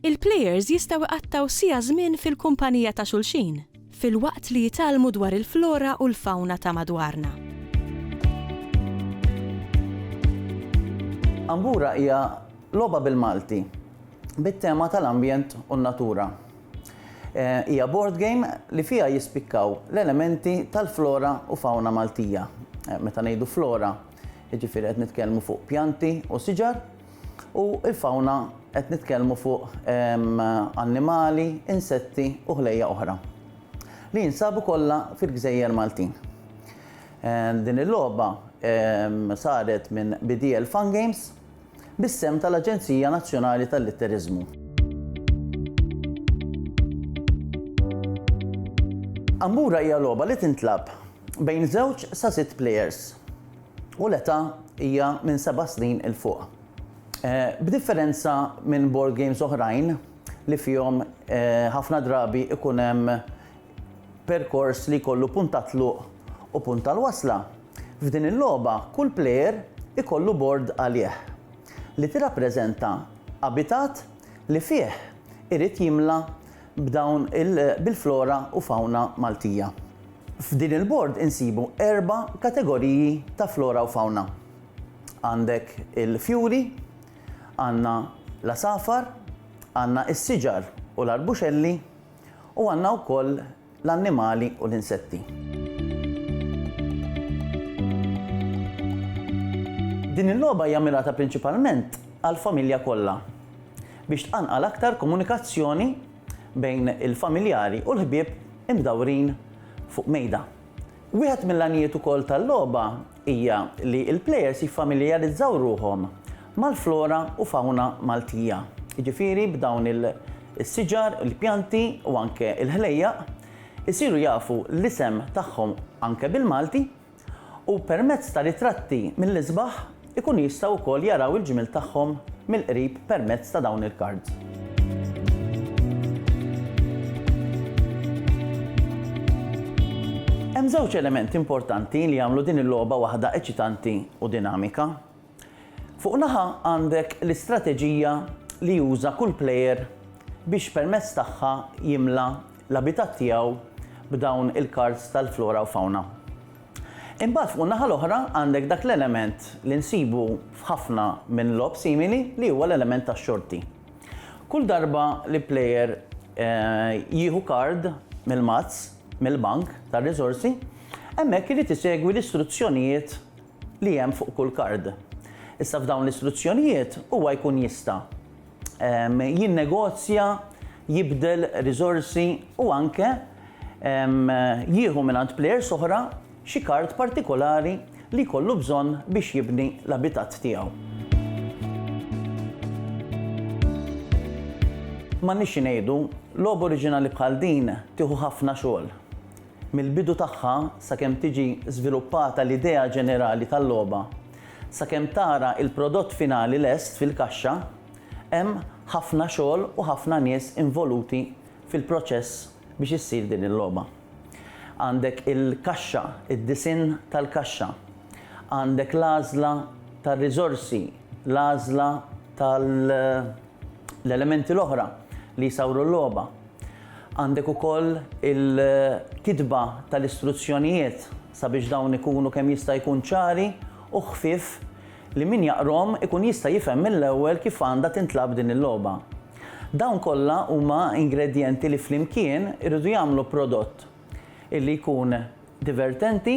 Il-plejers jistgħu jqattgħu siegħa żmien fil-kumpanija ta' xulxin, filwaqt li jitgħallmu dwar il-flora u l-fawna ta' madwarna. Ambura hija logħba bil-Malti bit-tema tal-ambjent u n-natura. Hija board game li fiha jispikkaw l-elementi tal-flora u fawna Maltija. Meta ngħidu flora, jiġifieri qed nitkellmu fuq pjanti u siġar, U l-fawna qed nitkellmu fuq annimali, insetti u ħlejja oħra li jinsabu kollha fil-gżejjer Maltin. Din il-logħba saret minn BDL Fun Games bis-sehem tal-Aġenzija Nazzjonali tal-Litteriżmu. Ambura hija logħba li tintlagħab bejn żewġ sa sitt plejers. u l-età hija minn seba' snin 'il fuq. B'differenza minn board games oħrajn li fihom ħafna drabi jkun hemm perkors li jkollu punt tat-tluq u punt tal-wasla, f'din il-logħba kull plejer ikollu bord għalih li tirrappreżenta abitat li fih irid jimla b'dawn il bil-flora u fawna Maltija. F'din il-bord insibu erba' kategoriji ta' flora u fawna. Għandek il-fjuri, għandna l-għasafar, għandna s-siġar u l-arbuxelli u għandna wkoll l-annimali u l-insetti. Din il-logħba hija mmirata prinċipalment għall-familja kollha. biex tqanqal aktar komunikazzjoni bejn il-familjari u l-ħbieb imdawrin fuq mejda. Wieħed mill-għanijiet ukoll tal-logħba hija li l-plejers jiffamiljarizzaw ruħhom mal-flora u fawna Maltija, jiġifieri b'dawn is-siġar, il-pjanti u anke l-ħlejjaq, isiru jafu l-isem tagħhom anke bil-Malti. u permezz ta' ritratti mill-isbaħ ikunu jistgħu wkoll jaraw il-ġmiel tagħhom mill-qrib permezz ta' dawn il-kards. Hemm żewġ elementi importanti li jagħmlu din il-logħba waħda eċitanti u dinamika. Fuq naħa għandek l-istrateġija li juża kull plejer biex permezz tagħha jimla l-abitat tiegħu b'dawn il-kards tal-flora u fawna. Imbagħad fuq in-naħa l-oħra għandek dak l-element li nsibu f'ħafna minn logħob simili li huwa l-element tax-xorti. Kull darba li plejer jieħu kard mill-mazz, mill-bank tar-riżorsi, hemmhekk irid isegwi l-istruzzjonijiet li hemm fuq kull kard. Issa f'dawn l-istruzzjonijiet huwa jkun jista' jinnegozja, jibdel riżorsi u anke jieħu mingħand plejers oħra xi kard partikolari li jkollu bżonn biex jibni l-abitat tiegħu. M'għandniex xi ngħidu, logħba oriġinali bħal din tieħu ħafna xogħol. mill-bidu tagħha sakemm tiġi żviluppata l-idea ġenerali tal-logħba, sakemm tara l-prodott finali lest fil-kaxxa, hemm ħafna xogħol u ħafna nies involuti fil-proċess biex issir din il-logħba. Għandek il-kaxxa, id-disinn tal-kaxxa. Għandek l-għażla tar-riżorsi, l-għażla tal-elementi l-oħra li jsawru l-logħba. Għandek ukoll il-kitba tal-istruzzjonijiet sabiex dawn ikunu kemm jista' jkun ċari u ħfief li min jaqrhom ikun jista' jifhem mill-ewwel kif għandha tintlagħab din il-logħba. Dawn kollha huma ingredjenti li flimkien iridu jagħmlu prodott illi jkun divertenti